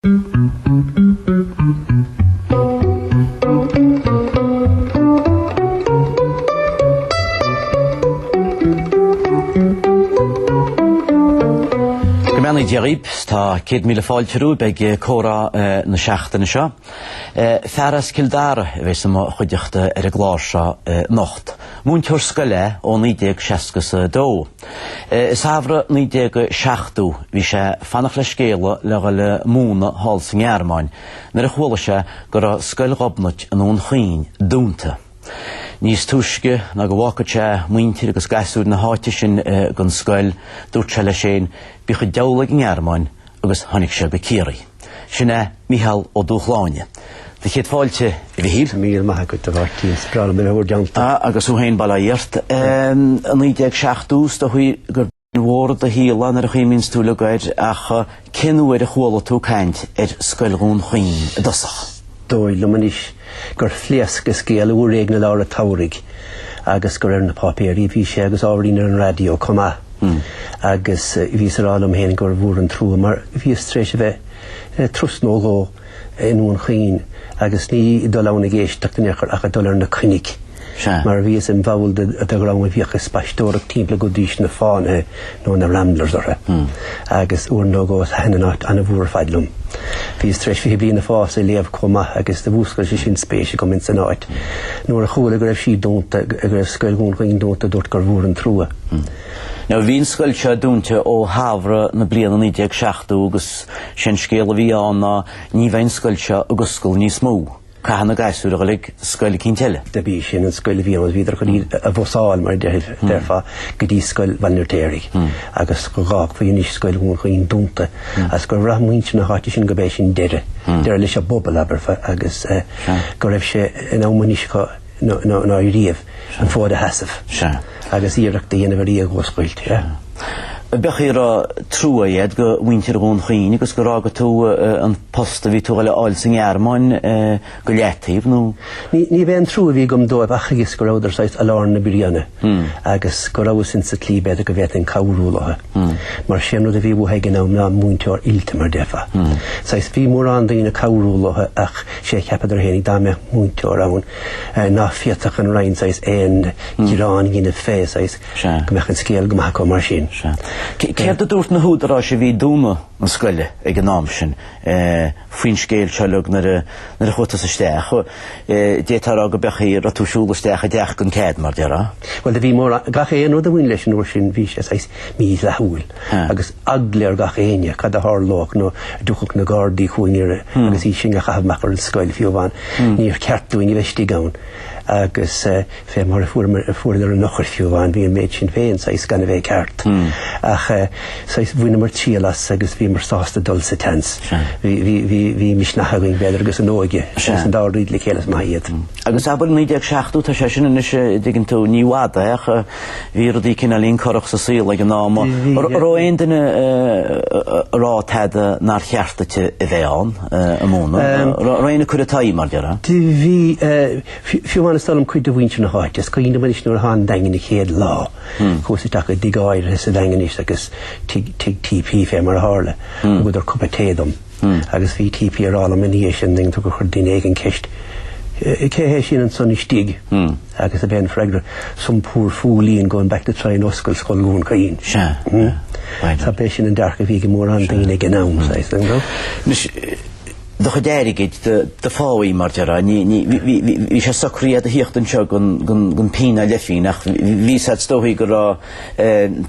Go mbeannaí Dia dhaoib, tá céad míle fáilte romhaibh ag comhrá na seachtaine seo. Fear as Cill Dara a bheidh sa mo chuideachta ar an gclár seo anocht. Múinteoir scoile é ó 1962. I samhradh 1970, bhí sé fanacht le scéala le dhul ag múnadh thall sa nGearmáin nuair a chuala sé go raibh Scoil Ghobnait i nDún Chaoin dúnta. Níos túisce ná go bhfágfadh sé muintir agus gasúir na háite sin gan scoil, dúirt sé leis féin, Bíodh an diabhal ag an nGearmáin agus tháinig sé go Ciarraí. Sin é Micheál Ó Dúshláine. Sé do chéad fáilte, a Mhichíl. Míle maith agat, a Mháirtín. Is breá liom mé a bheith anseo. Ah, agus thú féin bail ó Dhia ort. In 1970 's dóigh gur bliain mhór i do shaol í nuair a chuimhníonns tú le goid ach cén uair a chuala tú caint ar Scoil Dhún Chaoin i dtosach? Dóigh liom anois. gur phléasc an scéal uair éigin i lár a tsamhraidh agus gur ar na páipéirí a bhí sé agus ábhairín ar an raidió chomh maith. Agus bhíos ag rá liom féin gur mhór an trua mar bhíos tar éis a bheith turas nó dhó i nDún Chaoin agus ní dul ann ag éisteacht in aon chor ach ag dul ar na coinnigh. Sea. Mar bhíos im bhall de dhream a bhíodh ag spaisteoireacht timpeall go dtugaidís na fánaithe, nó na ramblers orthu. Agus uair nó dhó thaitin an áit an-mhór ar fad liom. Bhíos tar éis fiche Bliain ag Fás a léamh chomh maith agus do mhúscail sé sin spéis agam ins an áit. Nuair a chuala go raibh sí dúnta, go raibh scoil Dhún Chaoin dúnta, dúrt gur mhór an trua. Now bhí an scoil seo dúnta ó shamhradh na bliana 1970 agus sé'n scéal a bhí ann ná ní bheadh an scoil seo ag oscailt níos mó. Chaithfeadh na gasúir a dhul ag scoil eicínt eile. Do bhí sin an scéal a bhí ann, bhíodar chun iad a bhusáil, mar a déarfá, hmm. déarfá, go dtí scoil Bhaile an Fheirtéaraigh, hmm. agus go bhfágfaí ansin scoil Dhún Chaoin dúnta, hmm. as gur bhraith muintir na háite sin go mb'é sin deireadh, deireadh leis an bpobal ab fhearra, agus eh, go raibh sé in am anois nó riamh, an fód a sheasamh agus iarracht a dhéanamh ar í a dh'oscailt. B'fhéidir go raibh trua agat do mhuintir Dhún Chaoin agus gur fhága tú an post a bhí tú le fháil sa nGearmáin go leataobh, nó? Ní hé an trua a bhí agam dóibh ach agus go rabhadar saghas i lár na bruíne agus go rabhas insa tslí b'fhéidir go bhféadfainn cabhrú leo. Mar is é an rud a bhí uathu ag an am ná múinteoir oilte mar déarfá. Saghas bhí mórán daoine ag cabhrú leo ach 'sé a cheapadar féin dá mbeadh múinteoir ann ná féadfadh an Roinn saghas aon ghearán a dhéanamh fé saghas go mbeadh an scéal go maith acu mar sin. Céard a dúirt na húdaráis a bhí ag dúnadh na scoile ag an am sin? faoin scéal seo uilig nuair a nuair a chuaigh tusa isteach. D'fhéadfá a rá go b'é an chaoi a raibh tú ag siúl isteach i dteach gan cead, mar a déarfá. Bhuel do bhí mar gach aon rud a bhain leis an uair sin bhí sé saghas mídhleathúil agus eagla ar gach éinne cad a tharlódh nó a dtiocfadh na gardaí chugainn ar agus sinn a chaitheamh amach ar an scoil fiú amháin níor cheart dúinn a bheith istigh ann agus fé mar a fuaireamar an eochair fiú amháin, bhí an méid sin féin saghas gan a bheith ceart. Ach saghas bhaineamar triail as agus bhíomar sásta dul sa tseans. Bhí misneach againn b'fhéidir agus an óige agus an dá rud le chéile is maith iad. Agus abair 1970 tá sé sin anois an dtuigeann tú ní i bhfad é ach bhí rudaí cineáilín corrach sa saol ag an am. An raibh aon duine ag rá tada nár cheart duit a bheith ann ag múineadh? An raibh aon chur i t'aghaidh mar a déarfá? Bhí. Fiú amháin is dóigh liom cuid de mhuintir na háite, is cuimhin liom anois nuair a thána an Daingean an chéad lá, chuas isteach i dtigh áirithe sa Daingean anois agus tigh, tigh TP fé mar a tharla, thugadar cupa tae dom agus bhí TP ag rá liom ina dhiaidh sin, dtuigeann tú, gur chuir duine éigin ceist, cé hé sin ansan istigh agus ab é an freagra, some poor fooleen going back to try and oscail scoil Dhún Chaoin. Sea. Tá, b'é sin an dearcadh a bhí ag mórán daoine ag an am, saghas, dtuigeann tú. do chuid airgid, do pháí, mar a déarfá. Bhí sé socraithe agat a thíocht anseo gan pingin ná leithphingin ach bhí siad is dóichí go raibh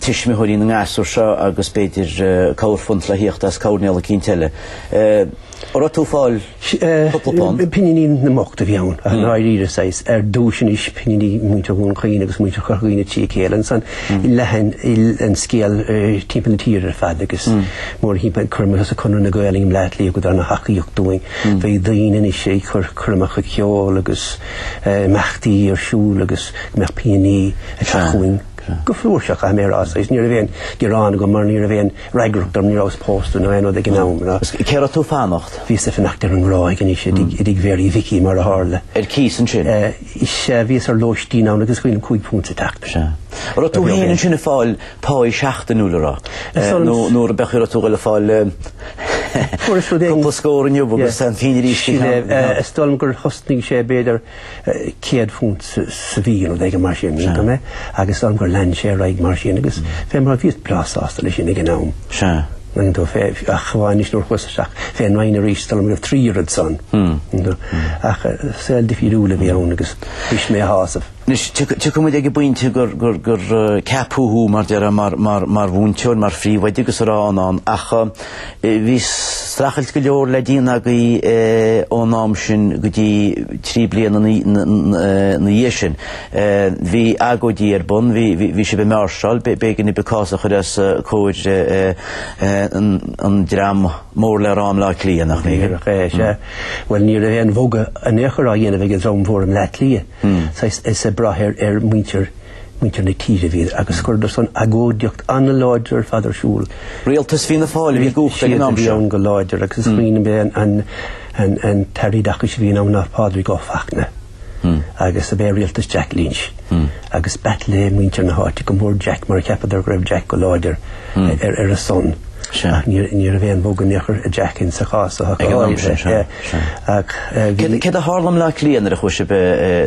tuismitheoirí na ngasúr seo agus b'fhéidir corrphunt le thíocht as coirnéal eicínt eile. An raibh tú ag fáil cúpla punt? Pinginí na mbocht a bhí ann, i ndáiríre saghas, ar dtúis anois pinginí muintir Dhún Chaoin agus muintir Chorca Dhuibhne trí chéile ansan. leath an scéal timpeall na tíre ar fad agus mórthimpeall cuir i gcás Conradh na Gaeilge i mBaile Átha Cliath thugadar ana-thacaíocht dúinn. Bheadh daoine anois ag cur coirmeacha ceoil agus imeachtaí ar siúl agus go mbeadh pinginí ag teacht chugainn go flúirseach caithfidh mé a rá saghas ní raibh aon ghearán agam mar ní raibh aon fhreagracht orm ní rabhas pósta nó aon rud ag an am ná Cé raibh tú ag fanacht? Bhíos ag fanacht ar an nGráig anois i dTigh Mhéaraí Mhicí mar a tharla. Ar cíos ansin? Is bhíos ar lóistín ann agus ag díol cúig púnt sa tseachtain. Sea. An raibh tú féin ansin ag fáil páí seachtainiúil an raibh? Nó ab é an chaoi a raibh tú ag fáil cúpla scór inniu agus aon phingin arís go ceann? Is dóigh liom gur thosnaigh sé b'fhéidir céad púnt sa mhí nó rud éigin mar sin, mínigh mé, agus is dóigh liom gur lean sé ar aghaidh mar sin agus fé mar a bhíos breá sásta leis sin ag an am. Sea. Dtuigeann tú fé chomhbhá anois nuair a chuas isteach fén Roinn arís, is dóigh liom go raibh trí oiread san. Ach saol difriúil a bhí ann agus bhí sé am shásamh. Anois, tiocfaidh muid ag an bpointe gur ceapadh thú, mar a déarfá, mar mhúinteoir, mar phríomhoide agus a raibh ann, ach bhí streachailt go leor le déanamh agaibh ón am sin go dtí trí bliana ina dhiaidh sin. Bhí agóidí ar bun, bhí sibh ag máirseáil, b'éigean daoibh cás a chur os comhair an dream mór le rá i mBleá Cliath, nach mb'ea? Bhuel ní raibh aon bhogadh in aon chor á dhéanamh ag an dream mhór i mBleá Cliath is ag brath ar mhuintir na tíre a bhíodar agus chuireadar san agóidíocht an-láidir ar fad ar siúl. Rialtas Fianna Fáil a bhí i gcumhacht ag an am seo. Siad a bhí ann go láidir agus smaoinigh ab é an tAire Oideachais a bhí ann ná Pádraig Ó Fachtna. agus ab é rialtas Jack Lynch, agus b'ait le muintir na háite go mór Jack mar cheapadar go raibh Jack go láidir ar a son. Ach ní raibh aon bhogadh in aon chor ag Jack insa chás, a thiocfadh a fháil uirthi. Ach bhí. Céard a tharla i mBleá Cliath nuair a chuaigh sibh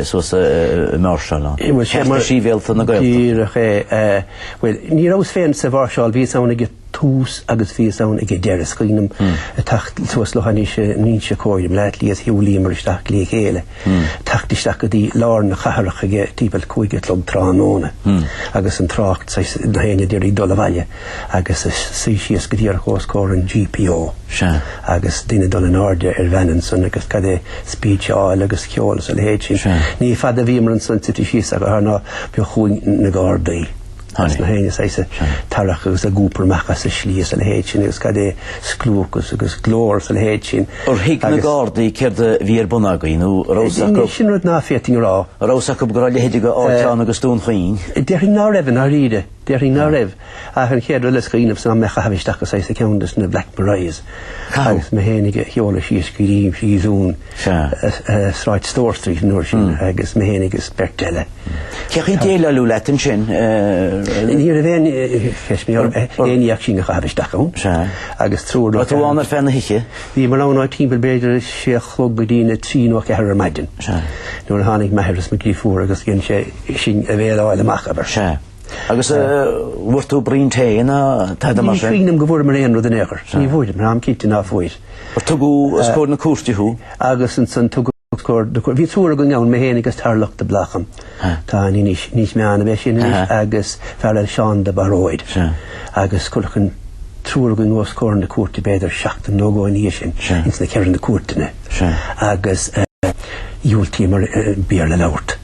suas ag máirseáil ann? Cearta Sibhialta na Gaeltachta. Díreach é. Bhuel, ní rabhas féin sa mháirseáil, bhíos ann ag. tús agus bhíos ann ag an deireadh. Is cuimhin liom teacht suas leo anois in Inse Chór i mBleá Cliath is shiúlaíomar isteach le chéile. Teacht isteach go dtí lár na cathrach ag timpeall cúig a chlog tráthnóna agus an trácht agus gach éinne d'iarraidh dul abhaile agus suí síos go díreach os comhair an GPO agus duine dul in airde ar veain ansan agus cad é speecheáil agus ceol agus a leithéid sin. Ní fada a bhíomar ansan suite síos in aon chor ná b'eo chugainn na Gardaí. Is gach éinne is iad ag tarrac agus ag iompar amach as an slí is a leithéid sin agus cad é scliúchas agus glór is a leithéid sin agus. Ar thuig na Gardaí céard a bhí ar bun agaibh nó an raibh a fhios acu? Sin rud ná féadfainn a rá. An raibh a fhios acu go raibh a leithéid d'áit ann agus Dún Chaoin? Déarfainn ná raibh i ndáiríre. Déarfainn ná raibh. Ach an chéad rud eile is cuimhin liomsa ná mé a chaitheamh isteach insa cheann des na Black Marias agus mé féinig a sheoladh síos go dtí stáisiún Sea, Sráid Store Street an uair sin agus mé féin agus beirt eile. Cén chaoi a déileáladh leat ansin? Ní raibh aon cheistiú orm, aon ní ach sinn a chaitheamh isteach ann. Sea. Agus triúr nó ceathrar. Bhí tú ann ar feadh na hoíche? Bhíomar ann ó timpeall b'fhéidir sé a chlog go dtí na trí nó a ceathair ar maidin. Sea. Nuair a tháinig m'athair is mo dhrifiúr agus dhein sé sinn a bhéileáil amach, abair. Sea. Agus an bhfuair tú braon tae ná tada? Ní cuimhin liom go bhfuaireamar aon rud in aon chor. Ní bhfuaireamar, táim cinnte ná fuair. Tugadh os comhair na cúirte thú. Agus ansan tugadh os comhair na cúirte. Bhí triúr againn ann, mé féin agus Tarlach de Blácam. Atá in Inis Meáin a bheith sin anois agus fear eile Seán de Baróid. Agus cuireadh an triúr againn os comhair na cúirte b'fhéidir seachtain nó dhó ina dhiaidh sin ins na ceithre na cúirteanna. Agus dhiúltaíomar Béarla a labhairt.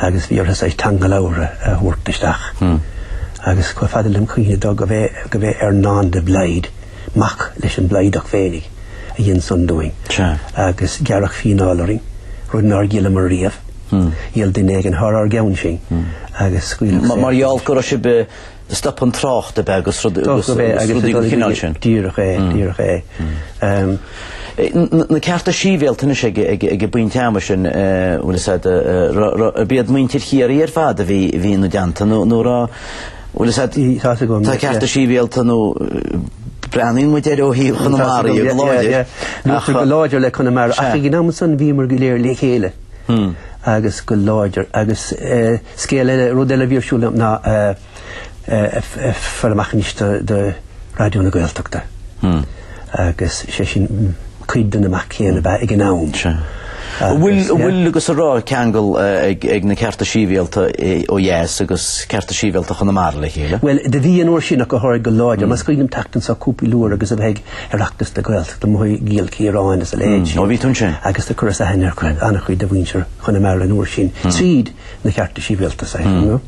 Agus bhí orthu teanga labhartha a thabhairt isteach. Agus chomh fada lem chuimhne de gurb é Earnán de Blaghd. Mac leis an mBlaghdach féinig a dhein san dúinn. Sea. Agus gearradh fíneáil orainn, rud nár dhíolamar riamh. Dhíol duine éigin thar ár gceann sin agus scaoileadh saor. Mar gheall go raibh sibh stop an trácht ab ea agus rudaí den chineál sin. Díreach é, díreach é. Na cearta sibhialta anois ag an bpointe ama sin ab iad muintir Chiarraí ar fad a bhí hí na deanta nó nó Bhuel, is ait í caite agam. Tá cearta sibhialta nó breathnaíonn muide air ó thaobh Chonamara í go láidir. Luaitear go láidir le Conamara ach ag an am san bhíomar go léir le chéile agus go láidir agus scéal eile, rud eile a bhí ar siúl ná a chur amach anois do Raidió na Gaeltachta agus sé sin, cuid den imeacht chéanna ab ea ag an am. An bhfuil agus an raibh ceangal ag na cearta sibhialta ó dheas agus cearta sibhialta Chonamara le chéile? Bhuel, do bhí an uair sin ach go háirithe go láidir. Mar is cuimhin liom teacht anso cúpla uair agus a bheith ag Oireachtas na Gaeltachta, amuigh i gCill Chiaráin is a leithéid sin. Ó, bhí tú ansin. Agus do chuireas aithne ar ana-chuid de mhuintir Chonamara an uair sin tríd na cearta sibhialta, safe, you know.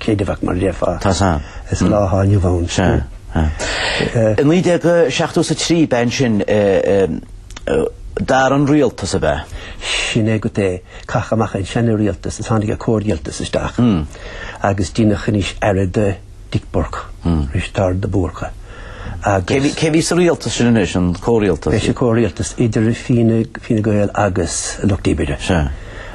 Céad a bheadh mar a déarfá. Tá sa. Is lá atá inniu ann. Sea. I 1973, b'in sin, d'athraigh an rialtas ab ea. Sin é, go, do caitheadh amach an seanrialtas is tháinig an comhrialtas isteach. Agus deineadh anois aire de Dick Burke, Risteárd de Búrca, agus. Cé a bhí sa rialtas sin anois, an comhrialtas? B'é sin comhrialtas idir Fine Gael agus an Lucht Oibre. Sea.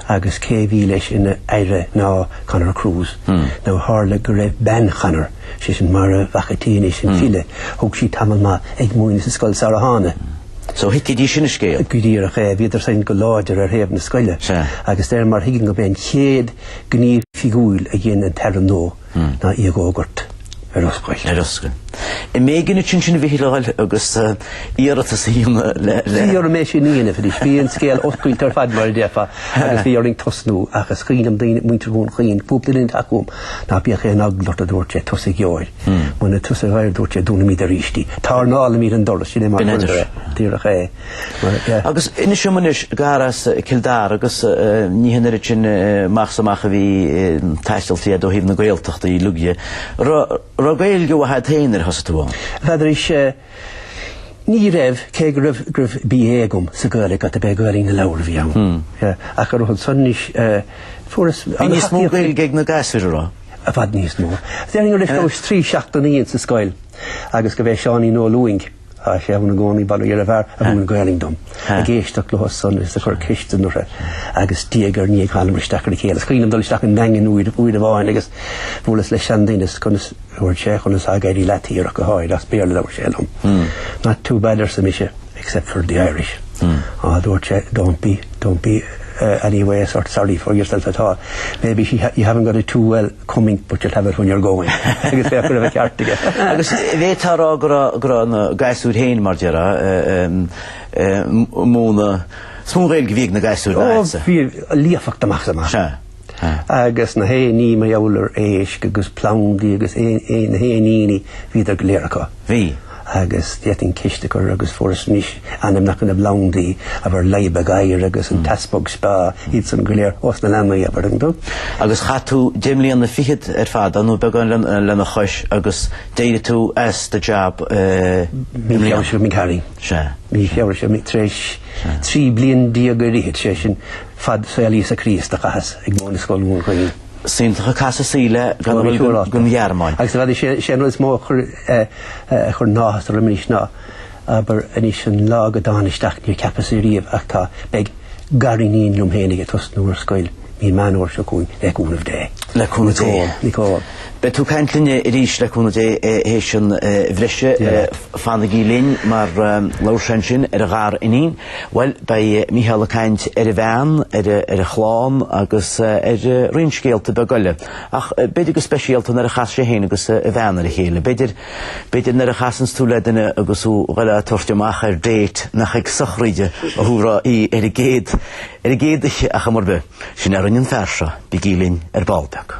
Agus cé a bhí leis ina Aire ná Conor Cruise. Now tharla go raibh bean Chonor, sé sin Máire Mhac an tSaoi anois, an file, thug sí tamall maith ag múineadh sa scoil sarar thána. So thuigfidís sin an scéal. Go díreach é, bhíodar sin go láidir ar thaobh na scoile. Agus de réir mar thuigim go mb'é an chéad ghníomh oifigiúil a dhein an tAire nua, ná í a fhógairt ar oscailt. Ar oscailt. An mb'éigean duit ansin a bhí Hill a fháil agus iarratas a dhéanamh le, le. Bhí orm é sin a dhéanamh anois. Bhí an scéal oscailte ar fad, mar a déarfá, agus bhí orainn tosnú. Ach is cuimhin liom daoine, muintir Dhún Chaoin, cúpla duine ag teacht chugam, ná bíodh aon eagla ort, a dúirt sé, tusa a gheobhaidh é. Muna tusa a gheobhaidh é, a dúirt sé, dúnfaimid aríst í. Tairneálfaimid an doras, sin é mar chuireadar é. Díreach é. Agus inis dom anois, gur as Cill Dara agus ní hé an oiread sin amach 's amach a bhí taistealta agat ó thaobh na Gaeltachta uilig de, raibh Gaeilge mhaith agat féin nuair a thosaigh tú ann? Ní fheadar anois, ní raibh, cé go raibh, go raibh BA agam sa Ghaeilge ach dob é Gaeilge na leabhar a bhí ann. Ach go raibh ansan anois, fuaireas, Bhí níos mó Gaeilge ag na gasúir a raibh? I bhfad níos mó. Déarfainn go rabhas trí seachtainí ann sa scoil agus go bhfeadh Seáinín Ó Lúing, Tá sé ann i gcónaí, ba léir ab fhearr a mhúin Gaelainn dom ag éisteacht leosan is ag cur ceisteanna orthu agus diaidh ar ndiaidh thánamar isteach ar a chéile. Is cuimhin liom dul isteach i nDaingean uair amháin agus buaileas le seanduine is conas a dúirt sé, conas atá ag éirí leat thiar ach go háirithe, as Béarla a labhair sé liom. Not too bad, arsa mise, except for the Irish. Á, a dúirt sé, don't be, don't be, uh, anyway a sort of sorry for yourself at all. Maybe she, you haven't got it too well. coming but you'll have it when you're going agus féach go raibh an ceart aige. Agus bhféadfá a rá go raibh, go raibh na gasúir féin, mar déarfá, ag múineadh, is mó an Ghaeilge a bhí ag na gasúir ná agatsa. Ó bhí líofacht amach is amach. Sea, sea. Agus na hainmneacha amhlaidh ar éisc agus plandaí agus na héiníní, bhíodar go léir acu. Bhí. agus d'fhéadfainn ceist a chur, agus fuaireas anois ainmneacha na bplandaí abair leadhb gadhair agus an t-easpag speá, iadsan go léir ós na leanaí ab fhearr acu. Agus chaith tú deich mbliana fichead ar fad ann, nó beagán lena chois, agus d'éirigh tú as do jab i mbliana? Mí Feabhra seo d'imigh tharainn. Sea. Mí Feabhra seo d'imigh tar éis trí bliana déag ar fhichid, sé sin fad saol Íosa Críost a chaitheas ag múineadh i Scoil Dhún Chaoin. Is iontach an casadh saoil é gan a ghoil don Ghearmáin. Agus bheadh sé an rud is mó a chuir a chuireann áthas orm anois ná abair anois an lá go dtána isteach níor cheapas é riamh ach tá beidh gariníon liom féin ag tosnú ar scoil mí Meán Fómhair seo chugainn le cúnamh Dé. Le cúnamh Dé. Nicole. Beidh tú ag caint linn arís le cúnamh Dé théis an bhriseadh. Fanaigí linn mar labhair sé ansin ar a ghariníon. Bhuel, beidh Mícheál ag caint ar a bhean, ar a chlann agus ar roinnt scéalta beaga eile. Ach b'fhéidir go speisialta nuair a chas sé féin agus a bhean ar a chéile. B'fhéidir nuair a chasanns tú le duine agus thú ag goil á tabhairt amach ar date nach ag sochraid a thabharfá í ar an gcéad oíche ar chuma ar bith. Sin a rinne an fear seo, bígí linn ar ball beag.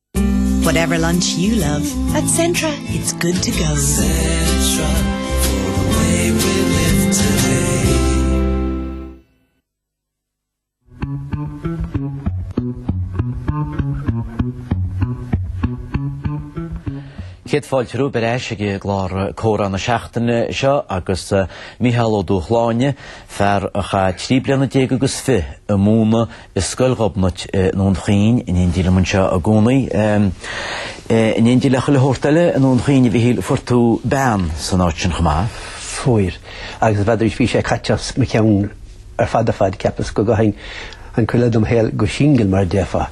Whatever lunch you love, at Centra it's good to go. Centra, for the way we live today. Céad fáilte romhaibh ar ais ag clár Comhrá na Seachtaine seo agus eh, Mícheál Ó Dubhshláine, fear a chaith trí bliana déag agus fiche ag múineadh i Scoil Ghobnait i nDún Chaoin in éindí liom anseo i gcónaí. In éindí le chuile shórt eile i nDún Chaoin a Mhichíl, fuair tú bean san áit sin chomh maith? Fuair, agus b'fhéidir bhí sé caite as mo cheann ar fad ar fad, cheapas go gcaithfinn an chuid eile dem shaol go singil mar a déarfá,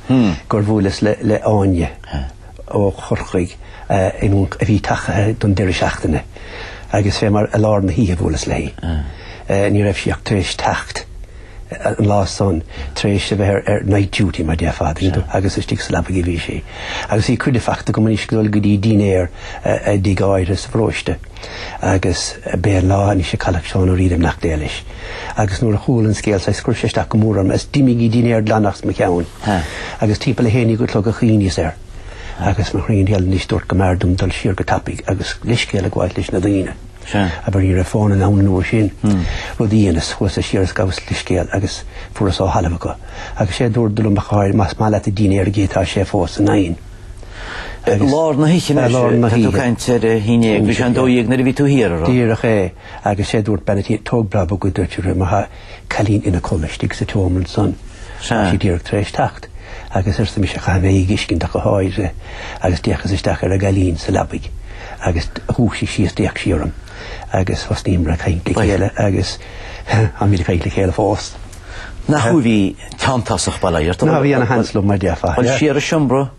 gur bhuaileas le hÁine ó Chorcaigh a bhí tagtha don deireadh seachtaine agus fé mar i lár na hoíche a bhuaileas léi. Ní raibh sí ach tar éis teacht. an lá san tar éis a bheith ar ar night duty mar déarfá agus istigh sa leabaidh a bhí sí. Agus bhí cuireadh fachta agam anois dul go dtí dínnéar i dtigh áirithe sa bparóiste. Agus b'é an lá anois é a cailleadh Seán Ó Riada beannacht Dé leis. Agus nuair a chuala an scéal saghas chuir sé isteach go mór orm is d'imigh an dínnéar glan amach as mo cheann. Agus timpeall a haon déag a' chlog a chuimhníos air. Agus mo chroí an gheal anois dúirt go mb'fhearr dom dul siar go tapaidh agus leithscéal a ghabháil leis na daoine. Abair ní raibh fón ann an uair sin, rud a dheineas, chuas siar is ghabhas leithscéal agus fuaras á thalamh acu. Agus sé a dúradh liom ach go háirithe, más maith leat an dínnéar a dh'ithe tá sé fós san oigheann. I lár na hoíche, mar sin, tá tú ag caint ar a haon déag, bhí sé an dó dhéag nuair a bhí tú thiar, a rá. Díreach é. Agus sé a dúirt, bean a' tí, tóg breá bog é, a dúirt, mar tá cailín ina codhladh istigh sa tseomra ansan. Tá sí díreach tar éis teacht. Agus arsa mise, Caithfidh mé í a fhiscint ach go háirithe agus d'fhéachas isteach ar an gcailín sa leabaidh agus dhúisigh sí is d'fhéach sí orm agus thosnaíomar ag caint le chéile agus táimid ag caint le chéile fós. Nach tú a bhí teanntásach bail ó Dhia ort. Ach bhí ana sheans liom mar déarfá. Bhuel céard a dúirt tú léithe?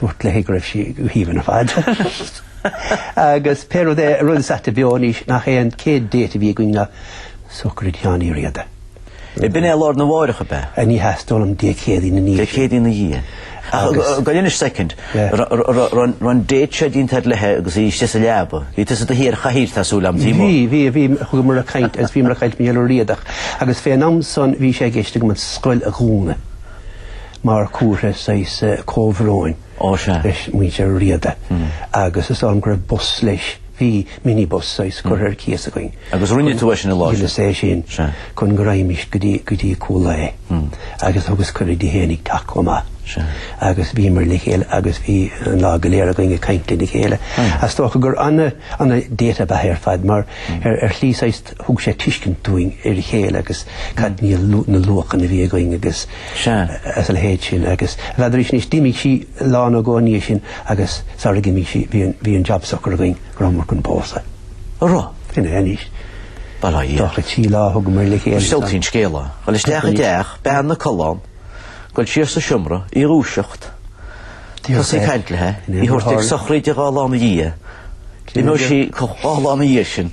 Dúirt léi go raibh sí go haoibhinn ar fad. Agus pé rud é, rud is aite beo anois nach é an chéad date a bhí againn ná sochraid Sheáin Uí Riada. Ar b'in é lá arna mháireach ab ea? Ní hea, is dóigh liom Dé Céadaoin ina dhiaidh sin. Dé Céadaoin ina dhiaidh. Agus. Go leanfaidh soicind. Raibh an date seo déanta agat léithe agus í istigh sa leaba. Bhí tusa i do shuí ar chathaoir, tá súil agam, taobh amuigh. Bhí, bhí, bhí. Chuamar ag caint agus bhíomar ag caint fén Riadach. Agus fén am san bhí sé i gceist agam an scoil a dhúnadh. mar chomhartha saghas comhbhróin leis muintir an Riada agus is ann go raibh bus leis, bhí minibus saghas curtha ar cíos againn. Agus rinne tú é sin i láthair? Rinneas é sin chun go raghaimist go dtí, go dtí Cúil Aodha agus thugas cuireadh di fhéinig teacht chomh maith. Agus bhíomar le chéile agus bhí an lá go léir againn ag caint lena chéile. Is dócha gur ana, ana date ab ea é ar fad mar ar shlí saghas, thug sé tuiscint dúinn ar a chéile agus cad iad na luachanna a bhí againn agus a leithéid sin agus abair arís anois d'imigh sí lá nó dhó ina dhiaidh sin agus sarar imigh sí bhí an job socair againn go rabhamar chun pósadh. An raibh? Sin é anois. Bail ó Dhia. Dócha trí lá a thugamar le chéile. Is iontach an scéal é. Dhul isteach i dteach bean ina codladh ann, dhul siar sa seomra, í a dhúiseacht, tosaí ag caint léithe, í a thabhairt ag sochraid dhá lá ina dhiaidh. Imeoidh sí dhá lá ina dhiaidh sin.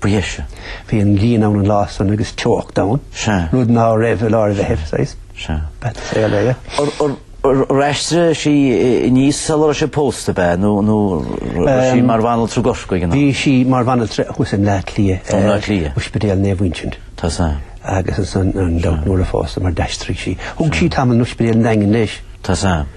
Mhuise. Bhí an ghrian ann an lá san agus teocht ann, rud ná raibh i lár an Mheithimh, saghas, b'ait an saol é. Ar aistrigh sí aníos sula raibh sibh pósta, ab ea, nó raibh sí mar bhanaltra i gCorcaigh ag an am? Bhí sí mar bhanaltra thuas i mBleá Cliath, in Oispidéal Naomh Uinseann. Tá a fhios agam. Agus ansan, gan dabht, nuair a phósamar d'aistrigh sí, thug sí tamall in Oispidéal an Daingin leis. Tá a fhios agam.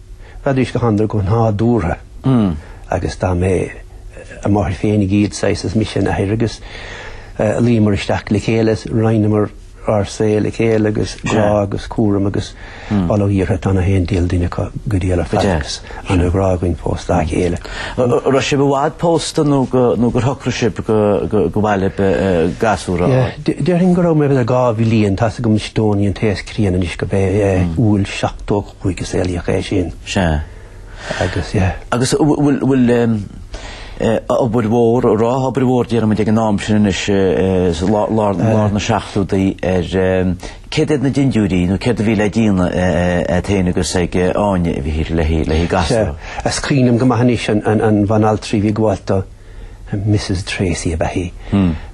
Bheadís go h-anraidh go nádúrtha agus dá mbeadh a máthair féinig iad saghas is mise a n-athair agus luíomar isteach le chéile, roinneamar ár saol le chéile agus grá agus cúram agus all ó iarrtha tá na haon diabhal duine acu go diail ar fad agus ana-ghrá againn fós dá chéile. Raibh sibh i bhfad pósta nó nó gur shocraigh sibh go mb'fhearr libh gasúr a fháil? Déarfainn go rabhamar b'fhéidir dhá bhliain, tá 's agam is Dónaí an té is críonna anois gurb é, Iúil 75. a saolaíodh é sin. Sea. Agus, yeah. Agus bhfuil, bhfuil, eh, obair mhór, raibh obair mhór, déarfaidh muid, ag an am sin anois, eh, lár, lár, lár na seachtóidí ar, eh, céard iad na dindiúirí, nó céard a bhí le déanamh, eh, eh, a'd féin agus ag, eh, Áine, a bhí thiar le, le gasúr? Sea. Is cuimhin liom go maith anois an, an, an bhanaltra a bhí ag gabháilt dó. Mrs Tracey ab ea í.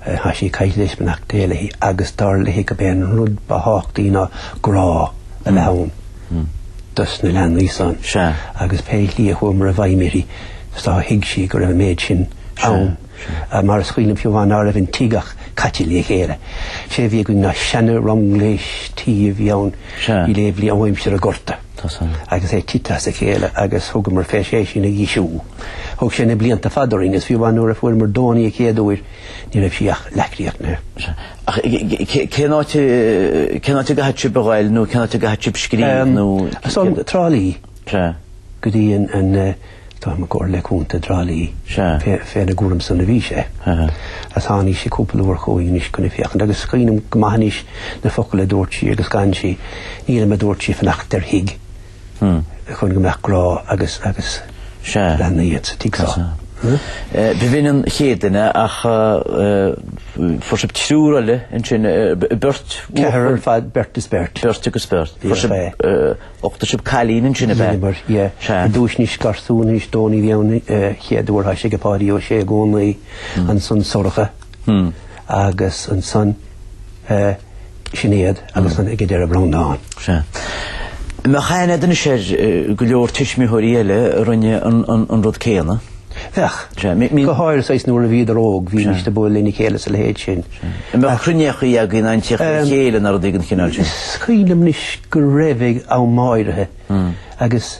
Tá sí caillte anois beannacht Dé léi agus dar léi gurb é an rud ba thábhachtaí ná grá a bheith ann dos na leanaí san. Sea. Agus pé slí a chuamar i bhfeidhm uirthi do thuig sí go raibh an méid sin ann. Mar is cuimhin liom fiú amháin ná raibh an tigh ach caite le chéile. Sé a bhí againn ná seana-runglais tí a bhí ann i léibhlí ó aimsir an ghorta. Tá 's a'm. Agus é tite as a chéile agus thugamar fé é sin a dheisiú. Thug sé na blianta fada orainn agus fiú amháin nuair a fuaireamar Dónaí an chéad uair, ní raibh sí ach leathchríochnaithe. Ach cén áit cén áit a gcaithfeadh sibh a ghoil nó cén áit a gcaithfeadh sibh scríobh nó. Trá Lí. Sea. Go dtí an, an, tá mo comhairle contae i dTrá Lí. Sea. Fé, féna gcúram san a bhí sé. Aha. Agus tháinig sí cúpla uair chugainn anois chun a féachaint agus is cuimhin liom go maith anois na focail a dúirt sí agus gan sí, nílim a dúirt sí ag fanacht ar thigh. chun go mbeadh grá agus leanaí sa tigh. B'in an chéad duine ach fuair sibh triúr eile ansin, beirt. Ceathrar ar fad, beirt is beirt. Beirt agus beirt. Fuair sibh d'uchtaigh sibh cailín ansin ab ea? Sea. I dtúis anois garsún anois Dónaí a bhí ann, chéad uair tá sé ag Páidí Ó Sé i gcónaí ansan, Sorcha. agus ansan Sinéad agus ansan ag an deireadh Breandán. Sea. Mbeadh aithne a'd anois ar go leor tuismitheoirí eile a rinne an rud céanna. Bheadh. Sea, mí-. Go háirithe saghas nuair a bhíodar óg, bhímis ag bualadh lena chéile is a leithéid sin. An mbeadh cruinníochaí ann nó teacht le chéile nó rudaí den chineál sin? Is cuimhin liom anois go raibh ag am áirithe agus.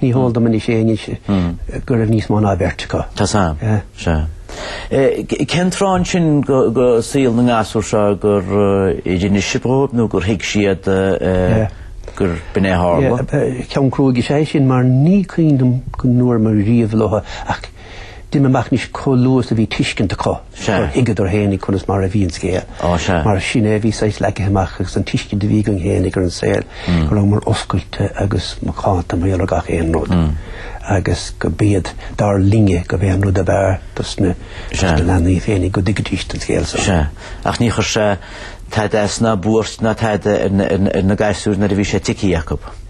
Ní heol dom anois éinne anso go raibh níos mó ná beirt acu. Tá 's a'm. Sea. Cén tráth ansin de shaol na ngasúr seo gur inis sibh dhóibh nó gur thuig siad gur b'in é a tharla? Ceann cruaidh is ea é sin mar ní cuimhin liom go ndúramar riamh leo ach Deirim amach anois chomh luath is a bhí tuiscint acu gur thuigeadar féinig conas mar a bhí an scéal. Mar sin é a bhí saghas leagtha amach agus an tuiscint a bhí againn féinig ar an saol go rabhamar oscailte agus macánta maidir le gach aon rud agus go mb'é dar linne gurb é an rud ab fhearr dos na leanaí féinig go dtuigfidís an scéal so. Sea. Ach ní chuir sé tada as, ná buairt ná tada ar na gasúir nuair a bhí sé tuigthe acu.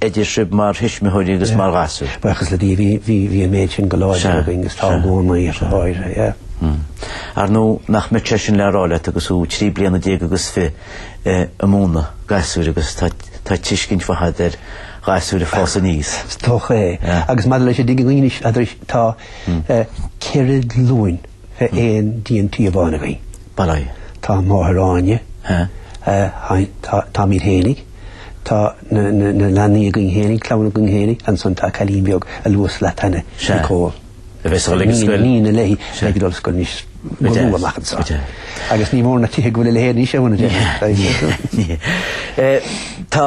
idir sibh mar thuismitheoirí agus mar ghasúir. Buíochas le Dia, bhí, bhí, bhí an méid sin go láidir againn agus tá i gcónaí, ar a shon go gáire, yeah. Ar ndóigh, nach bhfuil mise le rá leat agus thú trí bliana déag agus fiche ag múnlú gasúir agus tá, tá tuiscint faighte agat ar ghasúir ag fás aníos. Is dócha é. Agus maidir leis a' dtig againne anois, a' dturais, tá, eh, ceithre glúin. fé aon díon tí amháin againn. Bail ó Dhia. Tá máthair Áine. Táimid féinig. Tá na leanaí againn féinig, clann againn féinig. Ansan tá cailín beag aduas le Tanya, Nicole. A bheidh sí ag dul ar scoil. Iníon léi í ag dul ar scoil anois. Go luath amach anso. Agus ní mór na tithe go bhfuil a leithéid anois, a Mhona, a deirtear. Níl. Tá.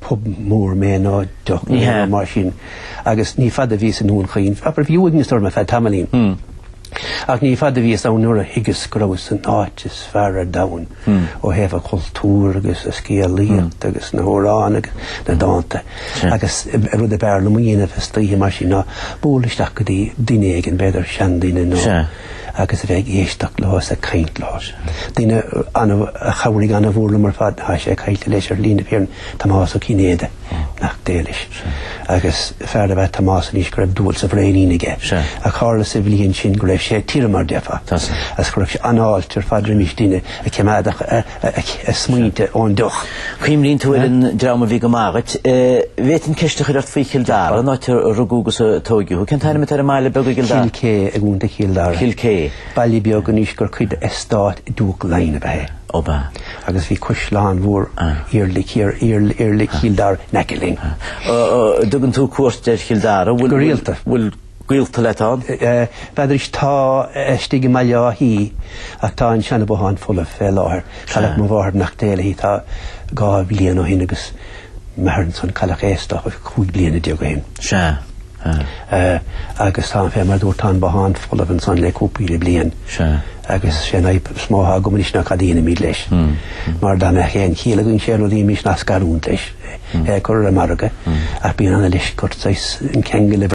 pub mór mé ná dioscónna nó mar sin agus ní fada a bhíos i nDún Chaoin, abair bhí uaigneas orm ar feadh tamaillín, ach ní fada a bhíos ann nuair a thuigeas go rabhas san áit is fearr ar domhan ó thaobh an chultúir agus an scéalaíocht agus na hamhráin agus na dánta agus rud ab fhearr liom a dhéanamh istoíche mar sin ná bualadh isteach go dtí duine éigin, b'fhéidir seanduine nó. agus a bheith ag éisteacht leo is ag caint leo. Duine a chabhraigh an-mhór liom ar fad tá sé caillte leis, ar shlí na fírinne, Tomás Ó Cinnéide, nach dtuigis, agus fear ab ea Tomás anois go raibh dúil sa bhraoinín aige, a tharla sa bhliain sin go raibh sé tirim, mar a déarfá, agus chuireadh sé an-fháilte ar fad roimis duine a chimeádadh a. a smaointe ón deoch. Cuimhníonn tú uilig ar an dream a bhí go maith dhuit. Bhféadfainn ceist a chur ort faoi Chill Dara, an áit a rugadh agus a tóigeadh thú. Cén ainm atá ar an mbaile beag i gCill Dara? Cill Chá i gContae Chill Dara. Cill Cé. Baile beag anois gur cuid d'eastát Diúc Laighean ab ea é. Ab ea. Agus bhí caisleán mór Iarlaí Chill Dara, in aice linn. Dtugann tú cuairt ar Chill Dara. Go rialta. gaolta leat ann? Deartháir liom, tá, istigh i mBaile Átha Í ach tá an seana bothán folamh fé láthair. Cailleadh mo mháthair beannacht Dé léi tá dhá bhliain ó shin agus m'athair ansan, cailleadh é isteach is cúig bliana déag ó shin. Sea, sea. Agus tá fé mar a dúrt tá an bothán folamh ansan le cúpla bliain. Sea. Agus sé an fhadhb is mó atá agam anois ná cad a dhéanfaimid leis. Mar dá mbeadh aon chiall againn sé a dhéanfaimís ná scarúint leis, é a cur ar an margadh ach bíonn ana leisc ort saghas an ceangal a